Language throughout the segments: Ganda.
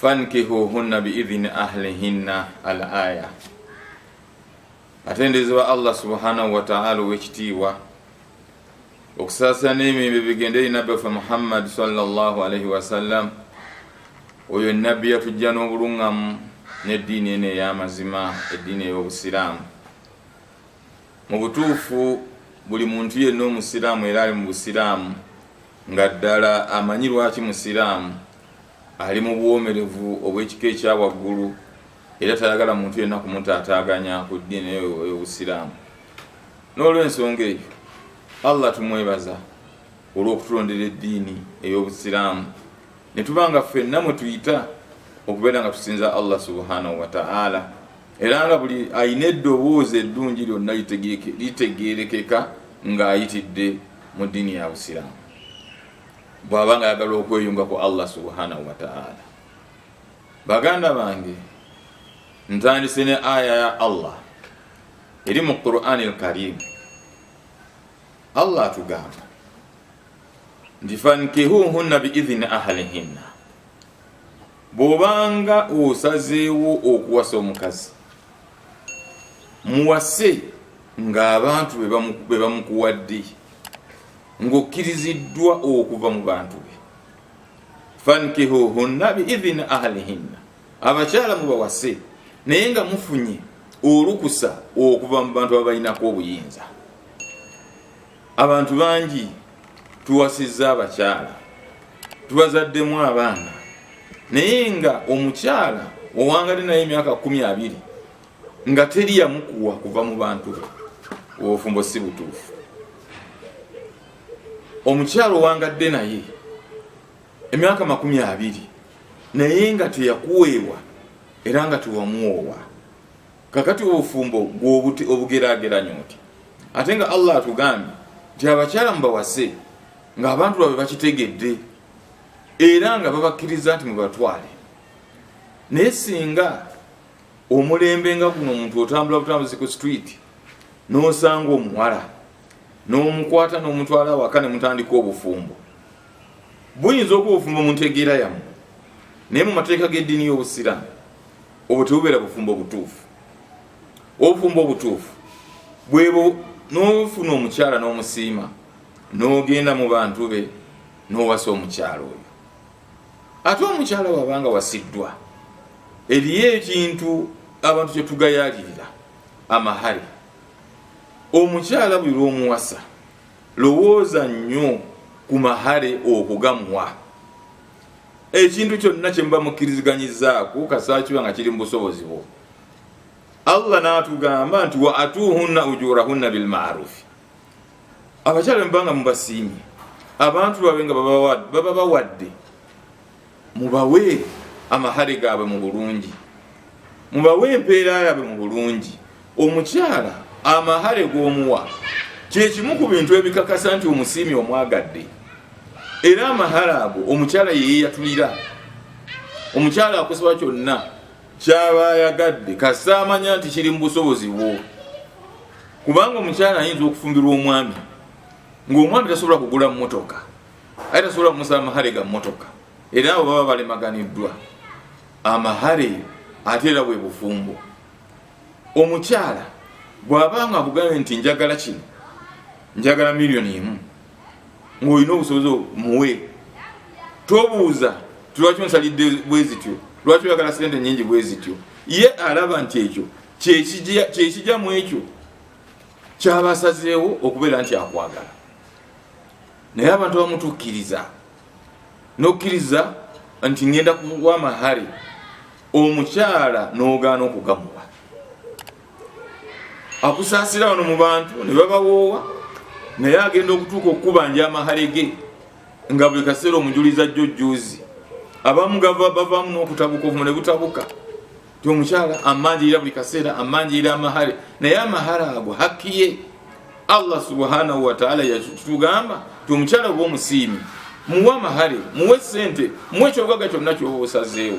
fankihuhunna biidhini ahlihinna al aya atendezewa allah subhanahu wataala owekitiibwa okusaasira n'emirembe bigende eri nabbi waffe muhammad salllahu alaihi wasallam oyo nabbi yatujja n'obuluŋŋamu n'eddiini eno ey'amazima eddiini ey'obusiraamu Mu butuufu buli muntu yenna Omusiraamu era ali mu Busiraamu nga ddala amanyi lwaki Musiraamu ali mu buwoomerevu obw'ekika ekya waggulu era tayagala muntu yenna kumutaataaganya ku ddiini eyo ey'Obusiraamu. N'olw'ensonga eyo, Allah tumwebaza olw'okutulondera eddiini ey'Obusiraamu ne tuba nga ffenna mwe tuyita okubeera nga tusinza Allah subhanahu wa ta'ala. era nga buli alina eddoboozi eddungi lyonna litegeerekeka ng'ayitidde mu ddiini ya busiraamu bw'aba nga ayagala okweyunga ku allah subhanahu wataala baganda bange ntandise ne aya ya allah eri mu qurani lkarimu allah atugamba nti fankihuhunna biidhini ahalihinna bw'obanga osazeewo okuwasa omukazi muwase ng'abantu be bamukuwadde ng'okkiriziddwa okuva mu bantu be fankihuhunna biidhini ahlihinna abakyala mubawase naye nga mufunye olukusa okuva mu bantu abalinako obuyinza abantu bangi tuwasizza abakyala tubazaddemu abaana naye nga omukyala owangade naye emyaka kumi abiri nga teri yamukuwa kuva mu bantu be obufumbo si butuufu omukyala owangadde naye emyaka makumi abiri naye nga teyakuweebwa era nga tewamuwoowa kakati obufumbo gwobuti obugerageranyo nti ate nga allah atugambye nti abakyala mubawase nga abantu babwe bakitegedde era nga babakkiriza nti mubatwale naye singa omulembe nga guno omuntu otambula butambuzi ku street nosanga omuwala nomukwata nomutwala awaka nemutandika obufumbo buyinza okuba obufumbo muntegeera yamu naye mu mateeka g'eddiini y'obusiraamu obwo tebubeera bufumbo obutuufu obufumbo obutuufu bwebo nofuna omukyala n'omusiima n'ogenda mu bantu be n'owasa omukyala oyo ate omukyala wabanga wasiddwa eriyo ekintu abantu kyetugayalirira amahale omukyala buli lwomuwasa lowooza nnyo ku mahale okugamuwa ekintu kyonna kyemuba mukkiriziganyizaaku kasaakiba nga kiri mu busobozi bwo allah natugamba nti wa atuhunna ujurahunna bilmarufi abakyala bemubanga mubasiimye abantu babe nga baba bawadde mubawe amahare gaabwe mu bulungi mubawe empeera yaabwe mu bulungi omukyala amahale g'omuwa kyekimu ku bintu ebikakasa nti omusiimi omwagadde era amahale ago omukyala yeyeyatulira omukyala akusaba kyonna kyaba ayagadde kasita amanya nti kiri mu busobozi bwo kubanga omukyala ayinza okufumbirwa omwami ngaomwami tasobola kugula mumotoka aye tasobola kumusaba amahale ga mumotoka era abo baba balemaganiddwa amahale ate era bwe bufumbo omukyala bwaba nga akugambye nti njagala kino njagala miliyoni emu ngaolina obusobozi muwe tobuuza tilwaki onsalidde bwezityo lwaki oyagala sente nyingi bwezityo ye alaba nti ekyo kyekija mu ekyo kyabasazeewo okubeera nti akwagala naye abantu bamutukkiriza nokkiriza nti ngenda kuwa mahare omukyala nogaana okugamuwa akusaasira wano mu bantu ne babawoowa naye agenda okutuuka okukubanja amahale ge nga buli kaseera omujulizi ajja ojjuuzi abamu gava bavaamu n'okutabuka obumu ne butabuka ti omukyala amanjirira buli kaseera amanjirira amahale naye amahale ago hakkiye allah subhanahu wataala yatugamba ti omukyala oba omusiimi muwe amahale muwe sente muwe ekyogaga kyonna kyoba osazeewo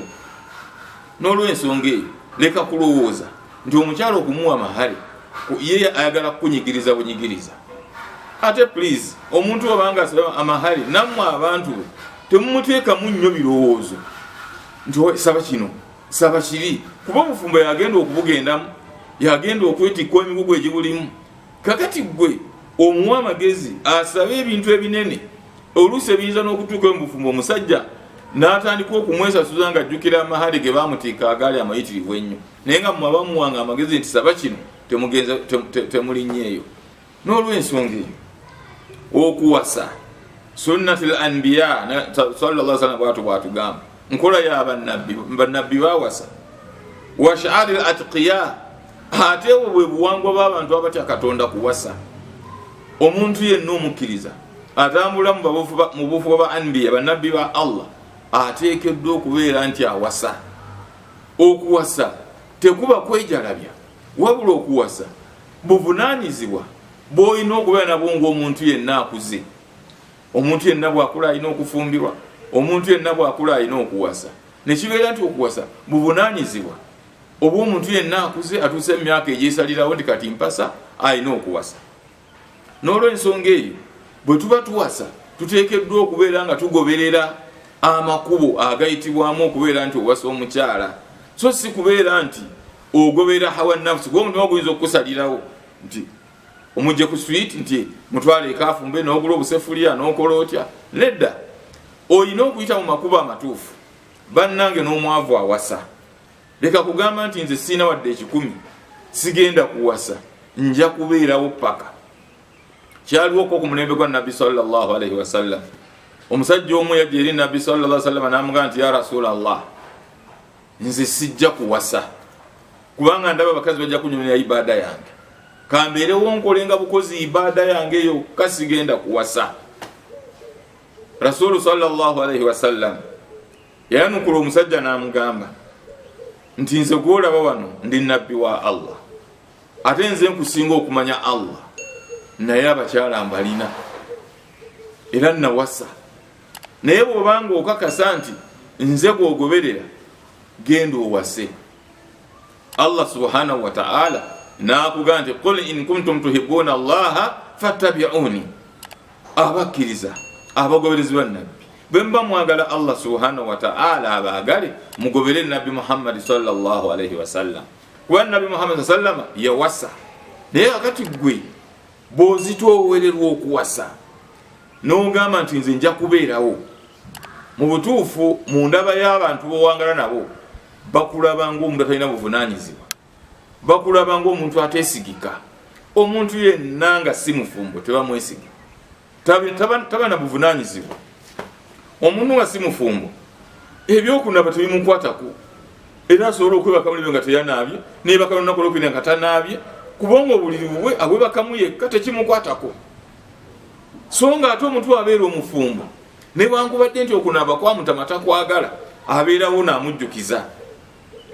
n'olwensonga eyo leka kulowooza nti omukyala okumuwa amahale ye ayagala kukunyigiriza bunyigiriza ate please omuntu obanga asaba amahale nammwe abantu be temumuteekamu nnyo birowoozo nti saba kino saba kibi kuba obufumbo yagenda okubugendamu yagenda okwetikka emigugu egibulimu kakati gwe omuwa amagezi asabe ebintu ebinene oluusi ebiyinza n'okutuuka mu bufumbo omusajja n'atandika okumwesasuza nga ajjukira amahale ge bamutiika agaali amayitirivu ennyo naye nga mwabamuwanga amagezi nti saba kino temulinnya eyo n'olwensonga eyo okuwasa sunnati l anbiya salla salam bwatu bwatugamba nkola ya banabbi banabbi bawasa washaari l atqiya ate obwo bwe buwangwa bw'abantu abatya katonda kuwasa omuntu yenna omukkiriza atambula mu bufuba ba anbiya banabbi ba allah ateekeddwa okubeera nti awasa okuwasa tekuba kwejalabya wabula okuwasa buvunanyizibwa bwolina okubeera nabwo ngaomuntu yenna akuze omuntu yenna bwakula alina okufumbirwa omuntu yenna bwakula alina okuwasa nekibeera nti okuwasa buvunanyizibwa obwomuntu yenna akuze atuuse mu myaka egyesalirawo nti kati mpasa alina okuwasa n'olwensonga eyo bwe tuba tuwasa tuteekeddwa okubeera nga tugoberera amakubo agayitibwamu okubeera nti owasa omukyala so si kubeera nti ogoberera hawa nafusi gwe omutima guyinza okukusalirawo nti omujje ku swit nti mutwala ekafumbe nogula obusefuliya nokola otya nedda olina okuyita mu makubo amatuufu bannange n'omwavu awasa leka kugamba nti nze siina wadde ekikumi sigenda kuwasa nja kubeerawo paka kyaliwo ko ku mulembe gwa nabbi salllahalaihi wasallam omusajja omu yajja eri nabbi salla salama namugamba nti ya rasula allah nze sijja kuwasa kubanga ndaba abakazi bajja kunyumira ibaada yange kambeerewo nkolenga bukozi ibaada yange eyo kasigenda kuwasa rasulu sallaalaihi wasallam yayanukula omusajja n'amugamba nti nze gwolaba wano ndi nabbi wa allah ate nze nkusinga okumanya allah naye abakyala mbalina era nawasa naye bwobanga okakasa nti nze gwogoberera genda owase allah subhanahu wataala nakuga nti qul in kuntum tuhibuuna allaha fattabiuni abakkiriza abagoberezi ba nabbi bwemuba mwagala allah subhanahu wataala abaagale mugobere nabbi muhammadi salllahu alaihi wasallam kuba nabbi muhammadi sa sallama yawasa naye akati gwe bwozitwowererwa okuwasa nogamba nti nze nja kubeerawo mu butuufu mu ndaba y'abantu bowangala nabo bakulaba ngaomuntu atalina buvunanyizibwa bakulaba ngaomuntu atesigika omuntu yenna nga si mufumbo tebamwesiga taba na buvunanyizibwa omuntu nga si mufumbo ebyokunaba tebimukwatako era asobola okwebaka mulibyo nga teyanaabye nebaka lunaku olwokubiri nga tanaabye kubanga obuliri bubwe abwebakamu yekka tekimukwatako so nga ate omuntu abeera omufumbo newankubadde nti okunaaba kwamutama takwagala abeerawo naamujjukiza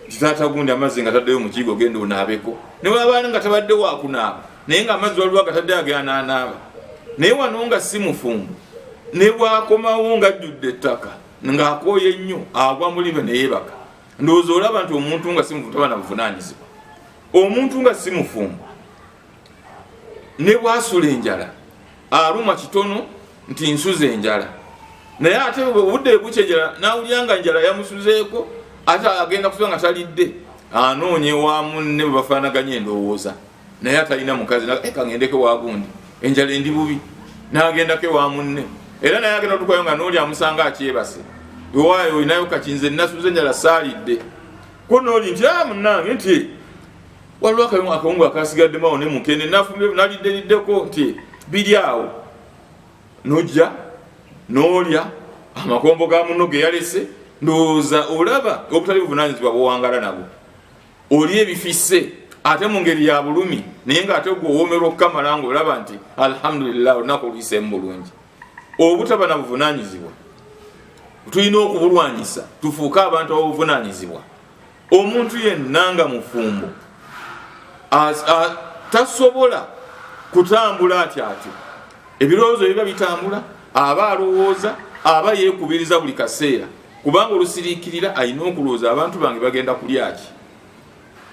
nti taata gundi amazzi nga taddeyo mukiigo ogenda onaabeko ne wabaana nga tabadde wakunaaba naye nga amazzi waliwo agataddeyo agananaaba naye wano nga si mufumbo ne bwakomawo nga ajjudde ettaka ng'akooye nnyo agwa mulibe neyebaka ndowooza olaba nti omuntu nga si mufumbo taba na buvunanyizibwa omuntu nga si mufumbo ne bwasula enjala aluma kitono nti nsuza enjala naye ate obudde bukya enjala nawulira nga njala yamusuzeeko ate agenda kusuza nga talidde anoonye wa munne bwe bafaanaganya endowooza naye atalina mukazi eh, kagendeko wagundi enjala endi bubi nagendako ewa munne era naye agenda otukayo nga nooli amusanga akyebase ewaayo olinayo kakinze nasuza enjala saalidde ko nooli nti a ah, munange nti waliwo akalimu akawungu akasigaddemu awo ne mukene nafumbe nalidderiddeko nti biri awo nojja nolya amakombo ga muno geyalese ndowooza olaba obutali buvunanyizibwa bwowangala nabwo oli ebifise ate mu ngeri ya bulumi naye nga ate gweowomerwa okukamala nga olaba nti alhamdulillah olunaku oluyiseemu bulungi obutaba na buvunanyizibwa tulina okubulwanyisa tufuuke abantu abobuvunanyizibwa omuntu yenna nga mufumbo tasobola kutambula ati ati ebirowoozo biba bitambula aba alowooza aba yekubiriza buli kaseera kubanga olusiriikirira alina okulowooza abantu bange bagenda kulyaki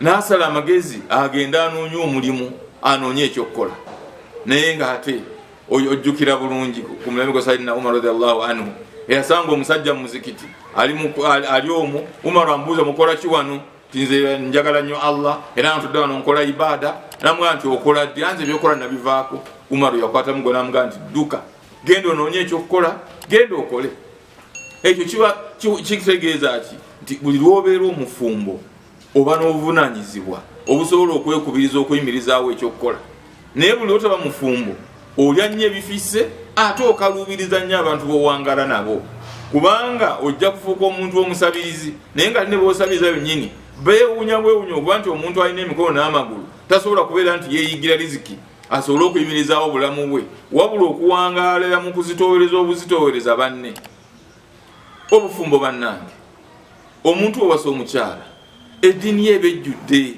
nasala amagezi agenda anoonya omulimu anoonya ekyokukola naye nga ate ojjukira bulungi ku mulembe gwa sayidina umar radiallahu anhu eyasanga omusajja mu muzikiti ali omu umaru ambuuza mukola ki wano tinze njagala nnyo allah era ntudde wano nkola ibaada namugaa nti okola ddi anze ebyokola nabivaako umaru yakwatamu gwe namugaa nti dduka genda onoonye ekyokukola genda okole ekyo kiba kitegeeza ki nti buli lwobeera omufumbo oba n'obuvunanyizibwa obusobola okwekubiriza okuyimirizaawo ekyokukola naye buli otaba mufumbo olya nnyo ebifisse ate okaluubiriza nnyo abantu bowangala nabo kubanga ojja kufuuka omuntu omusabirizi naye nga line bosabiriza yonyini bewunya bwewunya okuba nti omuntu alina emikono n'amagulu tasobola kubeera nti yeyigira riziki asobole okuyimirizaawo obulamu bwe wabula okuwangaalira mu kuzitoowereza obuzitoowereza banne obufumbo bannange omuntu owasa omukyala eddiini ye eba ejjudde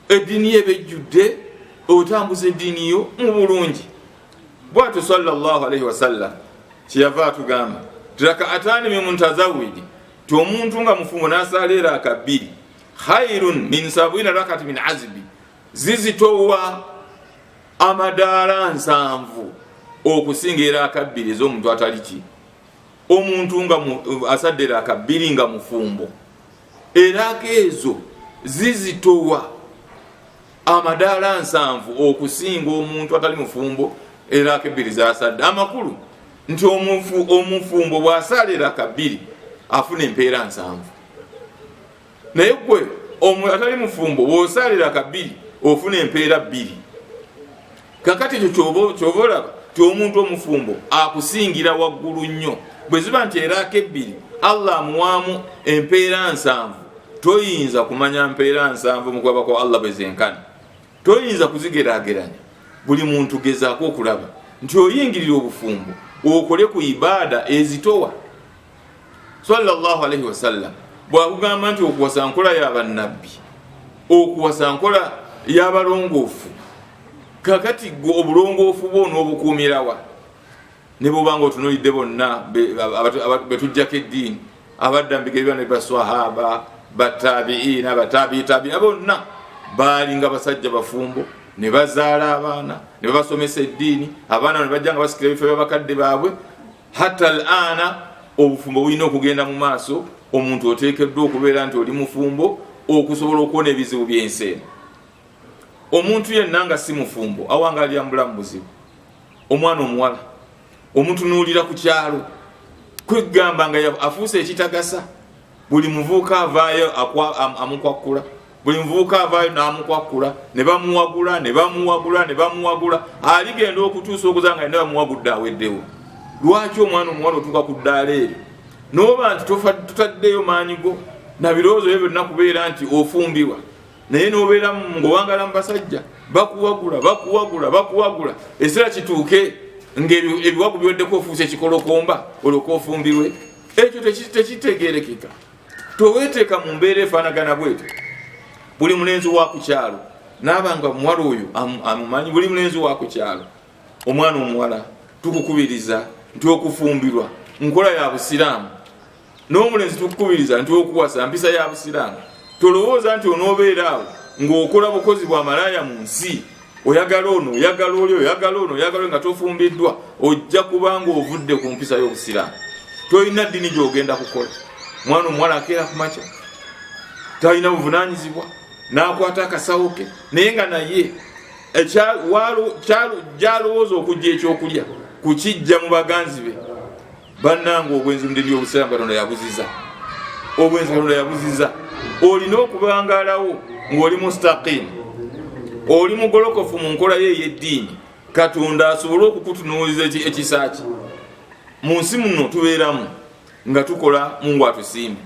eddiini ye eba ejjudde otambuza eddiini yo mu bulungi bwatyo salllah alaihi wasallam kyeyava atugamba tirakaatani mimuntazawidi ti omuntu nga mufumbo nasaala era akabbiri khairun min sabwina rakati min azibi zizitowa amadaala nsanvu okusinga era akabbiri ez'omuntu atali ki omuntu nga asaddera akabbiri nga mufumbo eraga ezo zizitowa amadaala nsanvu okusinga omuntu atali mufumbo eraaka ebbiri zasadde amakulu nti omufumbo bw'asaala eraaka bbiri afuna empeera nsanvu naye gwe omu atali mufumbo wosalira kabiri ofuna empeera bbiri kakati ekyo kyoba olaba ti omuntu omufumbo akusingira waggulu nnyo bwe ziba nti eraako ebbiri allah amuwaamu empeera nsanvu toyinza kumanya mpeera nsanvu mukwaba kwa allah bwe zenkana toyinza kuzigerageranya buli muntu gezaako okulaba nti oyingirira obufumbo okole ku ibaada ezitowa sallallahu alaihi wasallam bwakugamba nti okuwasa nkola yabannabbi okuwasa nkola yabalongoofu kakati gwe obulongoofu bwo n'obukuumirawa ne bwoba nga otunulidde bonna betujjako eddiini abadda mubigere byona baswahaba batabiina batabiitabiina bonna baalinga basajja bafumbo ne bazaala abaana ne babasomesa eddiini abaana ne bajja nga basikira ebifo byabakadde baabwe hatta alana obufumbo bulina okugenda mu maaso omuntu oteekeddwa okubeera nti oli mufumbo okusobola okuwona ebizibu byensi eno omuntu yenna nga si mufumbo awanga alyambula mu buzibu omwana omuwala omutunuulira ku kyalo kwegamba nga afuuse ekitagasa buli muvuuka avaayo amukwakkula buli muvuuka avaayo n'amukwakkula ne bamuwagula ne bamuwagula ne bamuwagula aligenda okutuusa okuza nga yena bamuwagudde aweddewo lwaki omwana omuwala otuuka ku ddaala eryo nooba nti tutaddeyo maanyi go na birowoozo byo byonna kubeera nti ofumbirwa naye nobeera ngaowangala mu basajja bakuwagula bakuwagula bakuwagula ekiseera kituuke ngaebiwagu biweddeko ofuuse ekikolokomba olwoka ofumbirwe ekyo tekitegerekeka teweteeka mu mbeera efanagana bwete buli mulenzi wakukyalo naaba nga omuwala oyo amumanyi buli mulenzi wakukyalo omwana omuwala tukukubiriza nti okufumbirwa nkola ya busiraamu n'omulenzi tukukubiriza nti okuwasa mpisa ya busiraamu tolowooza nti onoobeera awo ng'okola bukozi bwa malaaya mu nsi oyagala ono oyagala oli oyagala ono oyagala nga tofumbiddwa ojja kubanga ovudde ku mpisa y'obusiraamu tolina ddini gyogenda kukola mwana omuwala akeera ku makya talina buvunanyizibwa nakwata akasawo ke naye nga naye eh, gyalowooza okujja ekyokulya kukijja mu baganzi be bannange obwenzi mu dini y'obusiraamu katonda yabuziza obwenzi katonda yabuziza olina okubangaalawo ng'oli mustaqimu oli mugolokofu mu nkola yo ey'eddiini katonda asobole okukutunuuliza ekisa kye mu nsi muno tubeeramu nga tukola mungu atusiime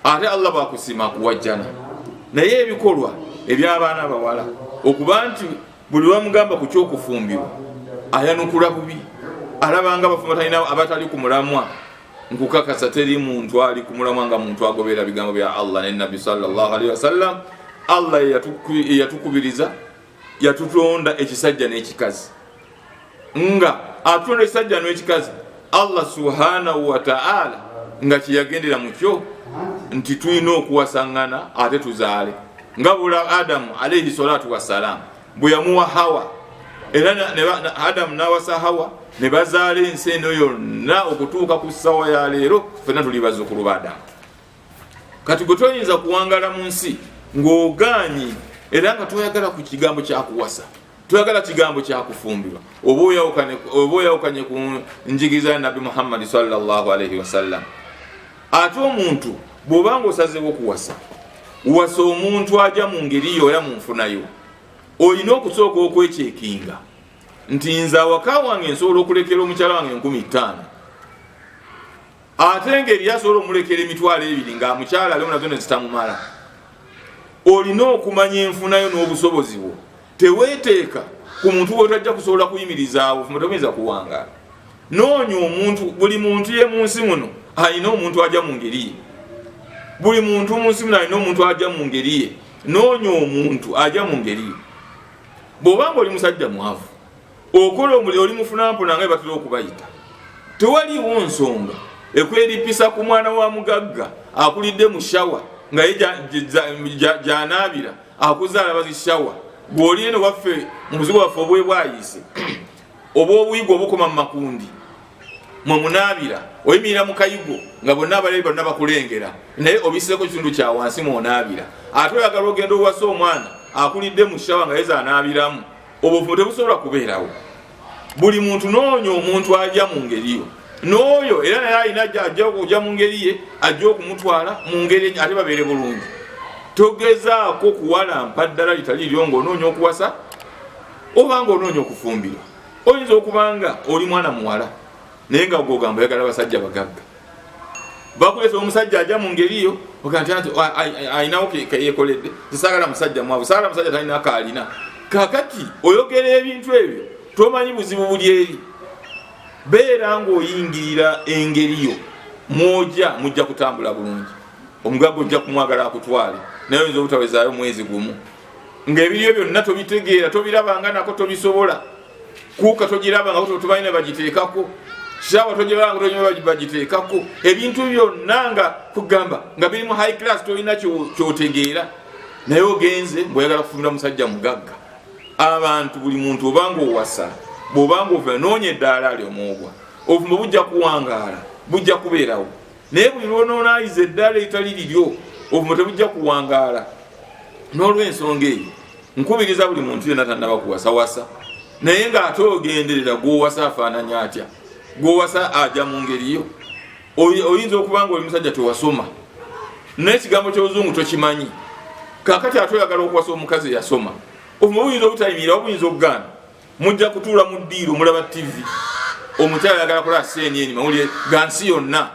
ate allah bwakusiima kuwajjana naye ebikolwa ebyabaana bawala okuba nti buli lwamugamba ku kyokufumbirwa ayanukula bubi alabanga abafumatalina abatali ku mulamwa nkukakasa teri muntu ali ku mulamwa nga muntu agobeera bigambo bya allah ne nabbi salllahalihi wasallam allah eyatukubiriza yatutonda ekisajja n'ekikazi nga atonda ekisajja n'ekikazi allah subhanahu wataala nga kyeyagendera mukyo nti tulina okuwasangana ate tuzaale nga bula adamu alaihi salatu wassalamu bwe yamuwa hawa era adamu nawasa hawa ne bazaala ensi eno yonna okutuuka ku ssawa ya leero fena tuli bazukulu ba adamu kati gwe toyinza kuwangala mu nsi ng'ogaanyi era nga toyagala ku kigambo kyakuwasa twagala kigambo kyakufumbirwa oba oyawukanye ku njigiriza ya nabbi muhammadi salllahalaihi wasallam ate omuntu bwoba nga osazewo okuwasa wasa omuntu aja mu ngeri yo era munfunayo olina okusooka okwekyekinga nti nze awaka wange nsobola okulekera omukyala wange enkumi ttaano ate nga eriyo asobola omulekera emitwalo ebiri nga amukyala aliwo nazo nezitamumala olina okumanya enfunayo n'obusobozi bwo teweteeka ku muntu wotajja kusobola kuyimirizaawo fumatomyinza kuwangaala noonya omuntu buli muntu ye mu nsi muno alina omuntu aja mu ngeri ye buli muntu mu nsi muno alina omuntu aja mu ngeri ye noonya omuntu aja mu ngeri ye bw'obanga oli musajja mwavu okola omuli oli mufunampona nga batera okubayita tewaliwo nsonga ekweripisa ku mwana wa mugagga akulidde mu shawa nga ye gyanaabira akuzaala bazi shawa gwoli eno waffe mubuzibu waffe obwe bwayise oba obuyigo obukoma mu makundi mwe munaabira oyimirira mu kayigo nga bonna abalabi bonna bakulengera naye obiseeko kitundu kya wansi mwonaabira ate oyagala ogenda owasa omwana akulidde mu shawa nga yeza anaabiramu obuvumu tebusobola kubeerawo buli muntu noonya omuntu aja mu ngeri yo nooyo era naye alina aja okuja mu ngeri ye ajja okumutwala mu ngeri ate babeere bulungi togezaako kuwalampa ddala litali lyo nga onoonya okuwasa oba nga onoonya okufumbirwa oyinza okubanga oli mwana muwala naye nga gogamba oyagala basajja bagagga bakuleta omusajja aja mu ngeri yo okanti anti ayinawo keyekoledde tisagala musajja mwavu sagala musajja talina kaalina kakati oyogera ebintu ebyo tomanyi buzibu buli eri beera ngaoyingirira engeri yo mwoja mujja kutambula bulungi omugaga ojja kumwagala akutwale naye oyinza obutawezaayo mwezi gumu ngaebiriyo byonna tobitegeera tobirabanga nako tobisobola kuuka togiraba nga totumanyi ne bagiteekako saawa togiraba nga tomanyi bagiteekako ebintu byonna nga kugamba nga biri mu high class tolina kyotegeera naye ogenze ngaoyagala kufumira musajja mugagga abantu buli muntu obanga owasa bwobanga ova noonya eddaala ali omwogwa obufumbo bujja kuwangaala bujja kubeerawo naye buli lwonoonaaliza eddala etali liryo obumo tebujja kuwangaala n'olwensonga eyo nkubiriza buli muntu yena tanaba kuwasawasa naye ng'ate ogenderera gwowasa afaananya atya gwowasa aja mu ngeriyo oyinza okuba nga oli musajja tewasoma naye ekigambo ky'oluzungu tokimanyi kakati ate oyagala okuwasa omukazi eyasoma obumo buyinza obutayimirira obuyinza okugaana mujja kutuula mu ddiiro mulaba tivi omukyala ayagala kulaba cnn mawulire ga nsi yonna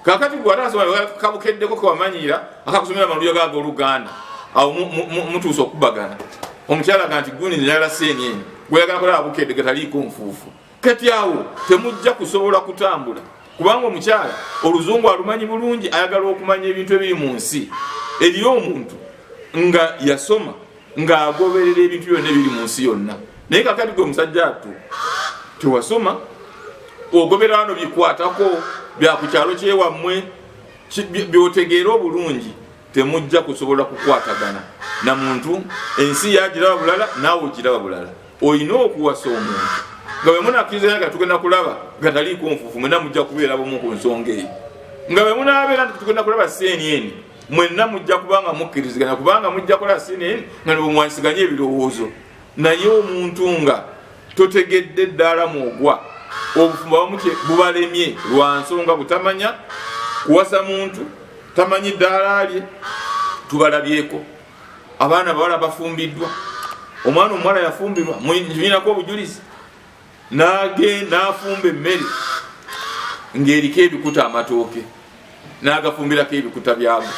kakati gwe atakabukeddeko kewamanyiira akakusomera amawulire gaga oluganda awo mutuusa okubagana omukyala ga nti gundi nayala cnn gweyagala kulaba bukedde getaliiko nfuufu kati awo temujja kusobola kutambula kubanga omukyala oluzungu alumanyi bulungi ayagala okumanya ebintu ebiri mu nsi eriyo omuntu nga yasoma ng'agoberera ebintu byonna ebiri mu nsi yonna naye kakati gwe musajja attu tewasoma ogobera wano bikwatako byakukyalo kyewammwe byotegeera obulungi temujja kusobola kukwatagana na muntu ensi yagiraba bulala naawe ogiraba bulala olina okuwasa omuntu nga bwemunakiriza nga tugenda kulaba gataliikonfufu mwena mujja kubeera bumu ku nsonga eyo nga bwemunabeera nti tugenda kulaba seeni eni mwenna mujja kubanga mukkiriziganya kubanga mujja kola sinin nga nebwemwansiganye ebirowoozo naye omuntu nga totegedde ddaala mwogwa obufumbo bamutye bubalemye lwa nsonga butamanya kuwasa muntu tamanyi ddaala lye tubalabyeko abaana bawala bafumbiddwa omwana omuwala yafumbirwa nyinako obujulizi nage nafumba emmere ngaeriko ebikuta amatooke nagafumbirako ebikuta byago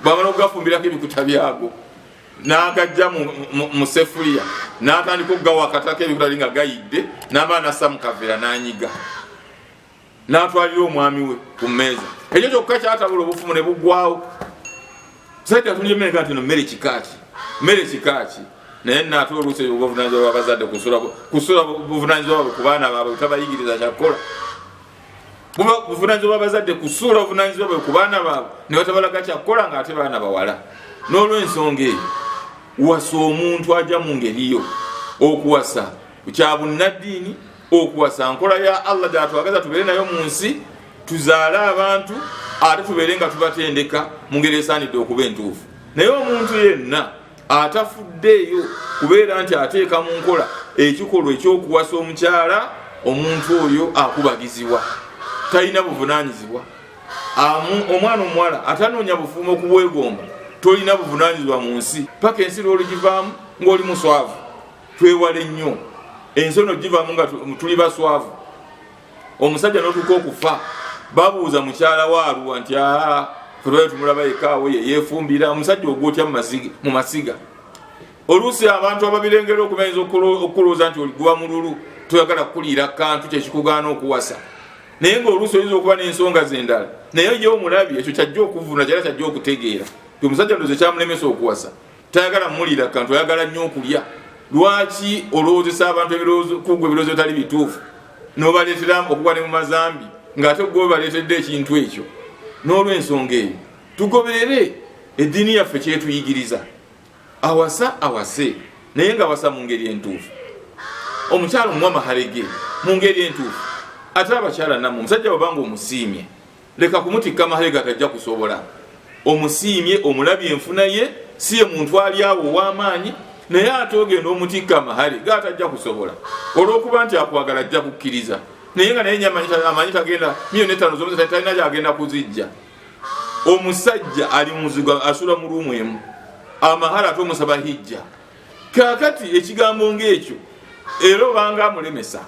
bwamala okugafumbirako ebikuta byago nagajja musefuliya natandika okugawa akatako ebikuta li nga gayidde naba nasa mukavera nanyiga n'atwalira omwami we ku mmeeza ekyo kyokka kyatabula obufumu ne buggwawo saidi atulyemeka nti no mmere kikaaki mmere kikaaki naye naate oluusi ebyo buvunanyizibwa bwabazadde kusula buvunanyizibwa bwabwe ku baana baabwe butabayigiriza kyakukola buba buvunanyizibwa bwabazadde kusuula buvunanyizibwa bwe ku baana baabwe ne batabalaga kyakukola nga ate baana bawala n'olwensonga eyo wasa omuntu aja mu ngeriyo okuwasa ku kya bunnaddiini okuwasa nkola ya allah gyatwagaza tubeere nayo mu nsi tuzaale abantu ate tubeere nga tubatendeka mu ngeri esaanidde okuba entuufu naye omuntu yenna atafuddeeyo kubeera nti ateeka mu nkola ekikolwa ekyokuwasa omukyala omuntu oyo akubagizibwa talina buvunanyizibwa omwana omuwala atanoonya bufuumo okubwegomba tolina buvunanyizibwa mu nsi paka ensi lwolugivaamu ngaoli muswavu twewale nnyo ensono givamu nga tuli baswavu omusajja notuka okufa babuuza mukyala waaluwa nti aa febayo tumulaba ekaawo ye yefumbira omusajja ogwotya mu masiga oluusi abantu ababirengera okubayinza okukulowooza nti oliguba mululu toyagala kukuliira kantu kyekikugaana okuwasa naye ngaoluusi oyinza okuba n'ensonga zendala naye ye omulabi ekyo kyajja okuvuna kyala kyajja okutegeera ti omusajja ndoze kyamulemesa okuwasa tayagala mulira kantu ayagala nnyo okulya lwaki olowoozesa abantu kugwa ebirowoozo bitali bituufu nobaleetera okugwa ne mu mazambi ngaate gwe baleetedde ekintu ekyo n'olwensonga eyo tugoberere eddiini yaffe kyetuyigiriza awasa awase naye nga awasa mu ngeri entuufu omukyalo muwa maharege mu ngeri entuufu ate abakyala namwe omusajja wabanga omusiimye leka kumutikka mahega tajja kusobola omusiimye omulabye enfuna ye si ye muntu ali awo ow'amaanyi naye ate ogenda omutikka amahale ga tajja kusobola olw'okuba nti akwagala ajja kukkiriza naye nga naye amanyi tagenda miyoni etaano zomusa talina gyagenda kuzijja omusajja ali muzigo asula mu luumu emu amahale ate omusaba hijja kakati ekigambo ngaekyo era obanga amulemesa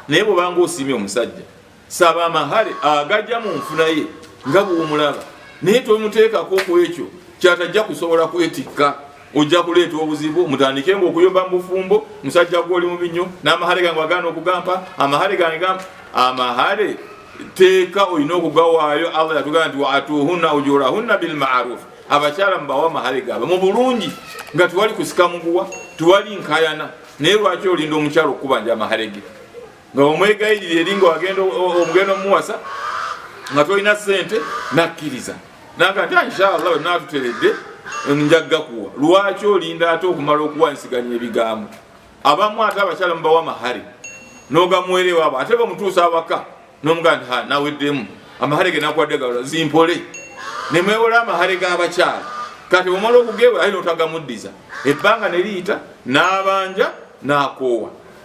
naye bwobanga osiimye omusajja saba amahale agajja mu nfuna ye nga bwomulaba naye tomuteekako ku ekyo kyatajja kusobola kwetikka ojja kuleeta obuzibu mutandike nga okuyomba mu bufumbo musajja gwoli mubi nnyo n'amahale gange wagaana okugampa amahale gange gampa amahale teeka olina okugawaayo allah yatugamba nti waatuhunna ujurahunna bilmarufu abakyala mubawa amahale gaabwe mu bulungi nga tewali kusika muguwa tewali nkayana naye lwaki olinda omukyalo okukubanja amahale ge nga omwegayirira eri nga wagenda omugenda omuwasa nga tolina sente nakkiriza naga nti inshallah wenatuteredde njakuwa lwaki olinda ate okumala okuwansiganya ebigambo abamu ate abakyala mubawa mahare nogamuwerewaabo ate bamutuusa awaka nomugaa nti naweddemu amahare genakuwadde galola zimpole nemwewola amahare gabakyala kati omala okugewa aye notagamuddiza ebbanga neriyita nabanja nakoowa